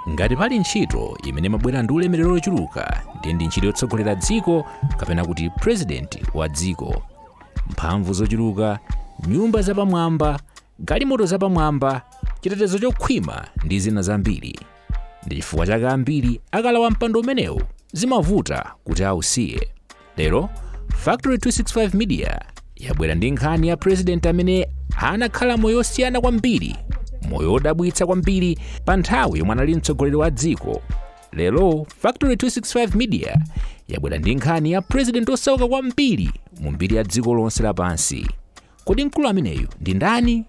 ngati pali ntchito imene imabwera ndi ulemerero wochuluka ndiye ndi ntchito yotsogolera dziko kapena kuti purezidenti wa dziko mphamvu zochuluka nyumba zapamwamba galimoto zapamwamba chitetezo chokhwima ndi zina zambiri ndi chifukwa chake ambiri akalawa mpando umenewu zimavuta kuti ausiye lero factory 265 media yabwera ndi nkhani ya president amene anakhala moyo osiyana kwambiri moyo odabwitsa kwambiri pa nthawi yomwe anali mtsogoleri wa dziko lero factory 265 media yabwera ndi nkhani ya president osauka kwambiri mu mbiri ya dziko lonse lapansi Kodi mkulu ameneyu ndi ndani?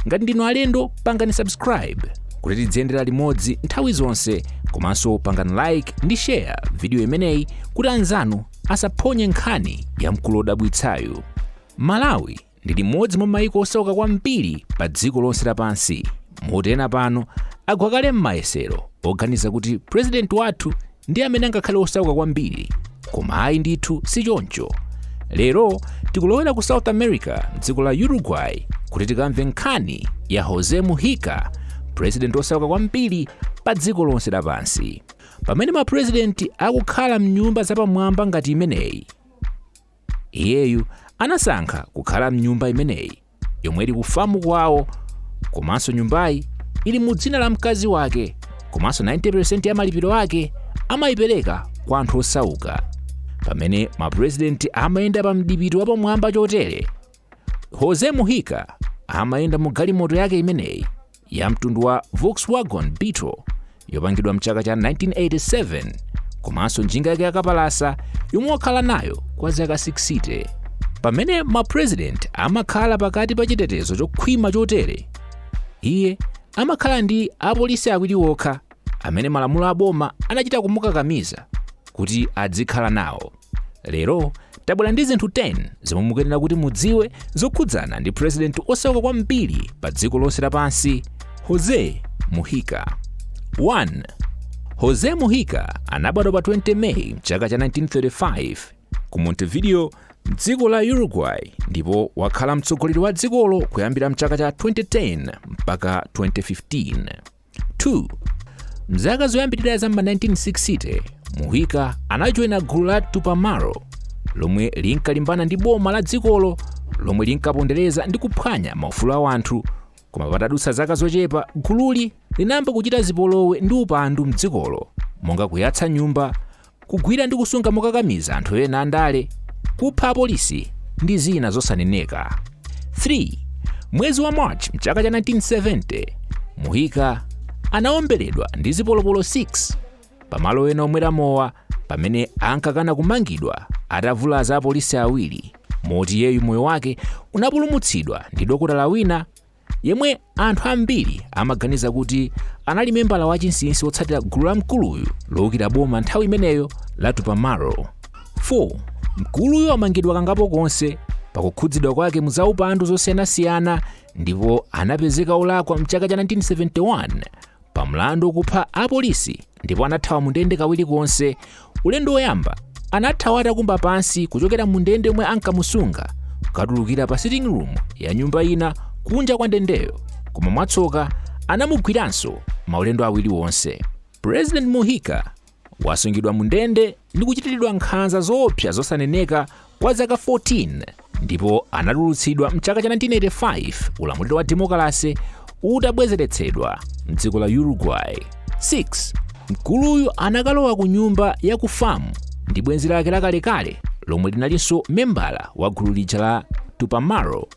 Ngati ndinu alendo, pangani subscribe kuti tidziyendera limodzi nthawi zonse komanso pangani like ndi share vidiyo imeneyi kuti anzanu asaphonye nkhani ya mkulu wodabwitsayu. Malawi ndi limodzi mwa mayiko osauka kwambiri pa dziko lonse lapansi moti ena pano agwa kale m'mayesero oganiza kuti purezidenti wathu ndi amene angakhale osauka kwambiri koma ayi ndithu si choncho lero tikulowera ku south america dziko la uruguay kuti tikamve nkhani ya jose mujica purezidenti osauka kwambiri pa dziko lonse lapansi pamene mapurezidenti akukhala mnyumba zapamwamba ngati imeneyi iyeyu anasankha kukhala mnyumba imeneyi yomwe ili ku famu kwawo komanso nyumbayi ili mu dzina la mkazi wake komanso 90% ya malipiro ake amayipereka kwa anthu osauka pamene mapurezidenti amayenda pa mdipiti wapamwamba chotere jose mujica amayenda mu galimoto yake imeneyi ya mtundu wa Volkswagen Beetle yopangidwa mchaka cha 1987 komanso njinga yake yakapalasa yomwe wakhala nayo kwa zaka 60 pamene mapurezidenti amakhala pakati pa chitetezo chokhwima chotere iye amakhala ndi apolisi awiri okha amene malamulo a boma anachita kumukakamiza kuti adzikhala nawo lero tabwera ndi zinthu 10 zomwe mukuyenera kuti mudziwe zokhudzana ndi purezidenti osauka kwambiri pa dziko lonse lapansi jose mujica 1 jose mujica anabadwa pa 20 meyi mchaka cha 1935 ku montevideo mdziko la uruguay ndipo wakhala mtsogoleri wa dzikolo kuyambira mchaka cha 2010 mpaka 2015 2 mzaka zoyambirira za ma 1960 mujica anajoyina gulu la tupamaro lomwe linkalimbana ndi boma la dzikolo lomwe linkapondereza ndi kuphwanya maufulu a wanthu koma patadutsa zaka zochepa gululi linayamba kuchita zipolowe ndi upandu mdzikolo monga kuyatsa nyumba kugwira ndi kusunga mokakamiza anthu ena andale, kupha apolisi, ndi zina zosaneneka. 3. Mwezi wa March mchaka cha 1970, Mujica anaomberedwa ndi zipolopolo 6 pamalo ena omwera mowa pamene ankakana kumangidwa atavulaza apolisi awiri, moti iyeyu moyo wake unapulumutsidwa ndi dokotala wina yemwe anthu ambiri amaganiza kuti anali membala wachinsinsi wotsatira gulu la mkuluyu loukira boma nthawi imeneyo la tupamaro 4 mkuluyu wamangidwa kangapo konse pakukhudzidwa kwake mu zaupandu zosiyanasiyana ndipo anapezeka olakwa mchaka cha 1971 pa mlandu okupha apolisi ndipo anathawa mu ndende kawiri konse. Ulendo woyamba anathawa atakumba pansi kuchokera mu ndende yomwe ankamusunga kukatulukira pa sitting room ya nyumba ina kunja kwa ndendeyo, koma mwatsoka anamugwiranso maulendo awiri onse. President Mujica wasungidwa mu ndende ndi kuchitiridwa nkhanza zoopsa zosaneneka kwa zaka 14 ndipo anatulutsidwa mchaka cha 1985 ulamuliro wa demokalase utabwezeretsedwa mdziko la uruguay 6 mkuluyu anakalowa ku nyumba ya ku famu ndi bwenzi lake lakalekale lomwe linalinso membala wa gulu lija la tupamaro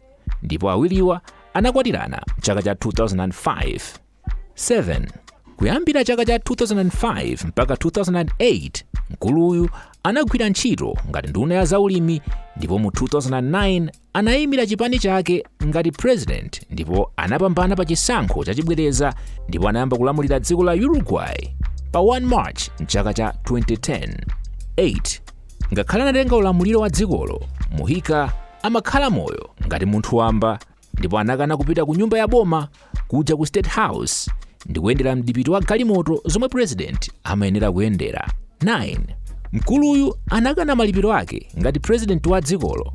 ndipo awiriwa anakwatirana mchaka cha 2005 7. Kuyambira chaka cha 2005 mpaka 2008, mkuluyu anagwira ntchito ngati nduna ya zaulimi ndipo mu 2009 anayimira chipani chake ngati president ndipo anapambana pa chisankho chachibwereza ndipo anayamba kulamulira dziko la Uruguay pa 1 March mchaka cha 2010. 8. Ngakhale anatenga ulamuliro wa dzikolo, Mujica amakhala moyo ngati munthu wamba ndipo anakana kupita ku nyumba ya boma kuja ku state house ndi kuyendera mdipiti wa galimoto zomwe president amayenera kuyendera 9 mkuluyu anakana malipiro ake ngati president wa dzikolo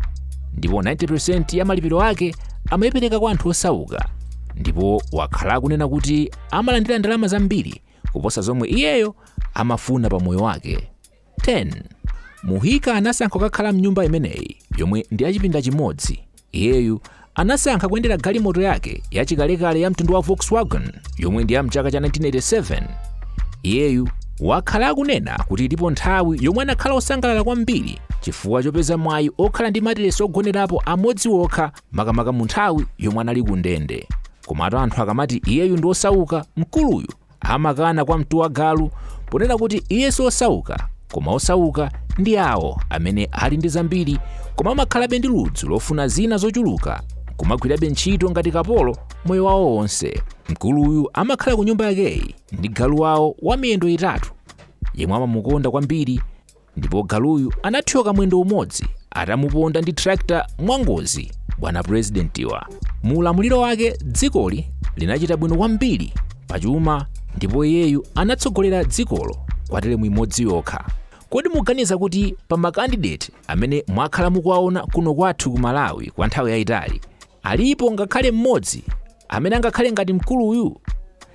ndipo 90% ya malipiro ake amayipereka kwa anthu osauka ndipo wakhala akunena kuti amalandira ndalama zambiri kuposa zomwe iyeyo amafuna pa moyo wake 10, Mujica anasankha kukakhala m'nyumba imeneyi yomwe ndi ya chipinda chimodzi. Iyeyu anasankha kuyendera galimoto yake yachikalekale ya mtundu wa Volkswagen yomwe ndi ya mchaka cha 1987. Iyeyu wakhala akunena kuti ilipo nthawi yomwe anakhala osangalala kwambiri chifukwa chopeza mwayi okhala ndi matiresi ogonerapo amodzi okha makamaka mu nthawi yomwe anali ku ndende. Komatu anthu akamati iyeyu ndi osauka, mkuluyu amakana kwa mtu wa galu ponena kuti iye si osauka koma osauka ndi awo amene ali ndi zambiri koma amakhalabe ndi ludzu lofuna zina zochuluka kumagwirabe ntchito ngati kapolo moyo wawo wonse mkuluyu amakhala ku nyumba yakeyi ndi galu wawo wa miyendo itatu yemwe amamukonda kwambiri ndipo galuyu anathyoka mwendo umodzi atamuponda ndi tractor mwangozi bwana presidentiwa mu ulamuliro wake dzikoli linachita bwino kwambiri pachuma ndipo iyeyu anatsogolera dzikolo kwa telemu imodzi yokha kodi muganiza kuti pa makandideti amene mwakhala mukuwaona kuno kwathu ku malawi kwa nthawi yayitali alipo ngakhale mmodzi amene angakhale ngati mkuluyu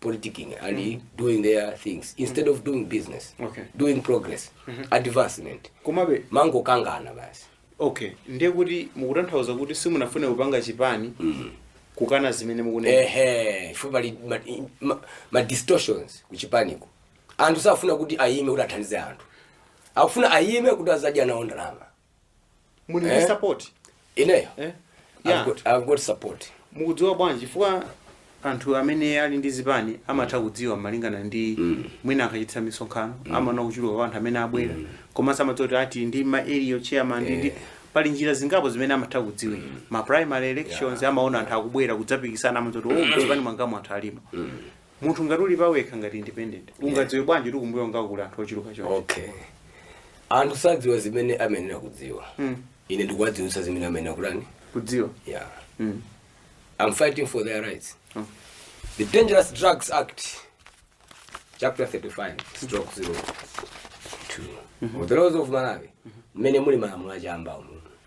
politicking and mm. doing their things instead mm. of doing business okay. doing progress mm -hmm. advancement komabe amangokangana basi okay ndiye kuti mukutanthauza kuti simunafune kupanga chipani mm -hmm. kukana zimene mukunena ehe ife pali ma, ma, ma distortions kuchipaniko anthu safuna kuti ayime kuti athandize anthu akufuna ayime kuti azadye nawo ndalama muli ndi Eh? support ineyo eh? yeah. I've got- I've got support mukudziwa bwanji chifukwa anthu amene ali ndi zipani amatha kudziwa malingana ndi mwina akachititsa misonkhano amaona kuchuluka kwa anthu amene abwera komanso amadziwa kuti ati ndi ma area chairman ndi- ndi pali njira zingapo zimene amatha kudziwira ma primary elections amaona anthu akubwera kudzapikisana amadziwa kuti oh mchipani mwangamo anthu alimo munthu ngati uli pawekha ngati independent ungadziwe bwanji kuti kumbuyo kwangaku kuli anthu ochuluka choncho okay anthu sadziwa zimene amayenera kudziwa Mm. ine ndikuwadziwitsa zimene amayenera kutani kudziwa yeah Mm. i'm fighting for their rights Mm. the dangerous drugs act chapter 35 stroke 02 of the laws of malawi mmene muli malamulo achamba umu